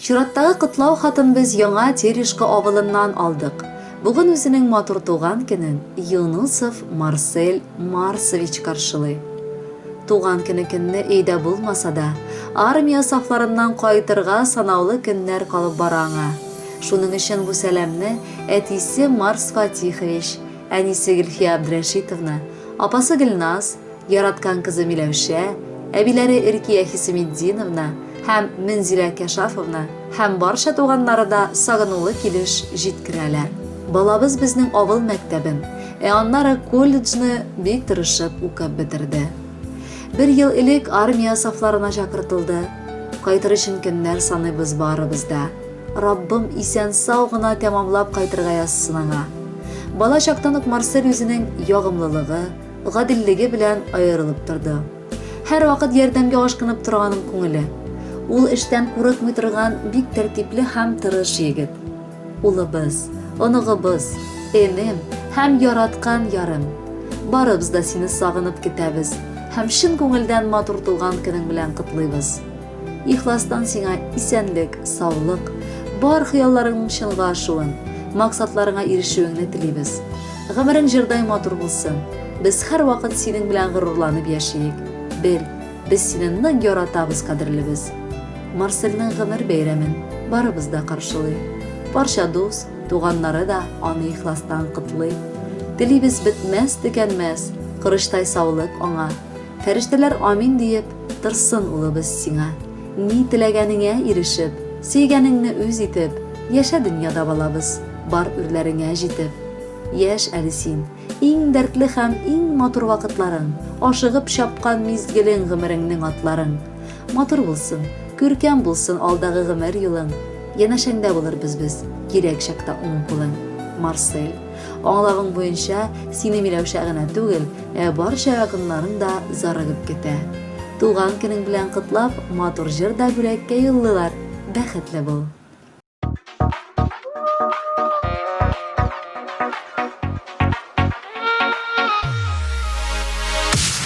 Чираттагы котлау хатын без Яңа Терешка авылыннан алдык. Бүген үзенең матур туган көнен Юнусов Марсель Марсович каршылый. Туган көне көнне өйдә булмаса да, армия сафларыннан кайтырга санаулы көннәр калып бара аңа. Шуның өчен бу сәламне әтисе Марс Фатихович, әнисе Гөлфия Абдрәшитовна, апасы Гөлназ, Яраткан кызы Миләүшә, әбиләре Иркия Хисеметдиновна һәм Мензилә Кәшафовна һәм барча туганнары да сагынулы килеш җиткерәләр. Балабыз безнең авыл мәктәбен, ә аннары колледжны бик тырышып укып бетерде. Бер ел элек армия сафларына чакыртылды. Кайтыр өчен көннәр саныйбыз барыбыз да. Раббым исән-сау гына тәмамлап кайтырга язсын аңа. Бала чактан ук Марсель үзенең ягымлылыгы, гаделлеге белән аерылып торды. Һәрвакыт ярдәмгә ашкынып торган күңеле. Ул эштән курыкмый торган бик тәртипле һәм тырыш егет. Улыбыз, оныгыбыз, энем һәм яраткан ярым. Барыбыз да сине сагынып көтәбез һәм чын күңелдән матур тулган көнең белән котлыйбыз. Ихластан сиңа исәнлек, саулык, бар хыялларыңның чынга ашуын, максатларыңа ирешүеңне телибез. Гомерең җырдай матур булсын. Без һәрвакыт синең белән горурланып яшиек. Бел, без сине нык яратабыз, кадерлебез. Марсельнең гомер бәйрәмен барыбыз да каршылый. Барча дус, туганнары да аны ихластан котлый. Телибез бетмәс-төкәнмәс корычтай саулык аңа. Фәрештәләр амин диеп, торсын улыбыз сиңа. Ни теләгәнеңә ирешеп, сөйгәнеңне үз итеп, яшә дөньяда балабыз, бар үрләреңә җитеп. Яшь әле син, иң дәртле һәм иң матур вакытларың, ашыгып чапкан мизгелең гомереңнең атларың. Матур булсын, күркәм булсын алдагы гомер юлың, янәшәңдә булырбыз без, кирәк чакта уң кулың. Марсель. Аңлавың буенча, сине Миләүшә генә түгел, ә барча якыннарың да зарыгып көтә. Туган көнең белән котлап, матур җыр да бүләккә юллыйлар. Бәхетле бул!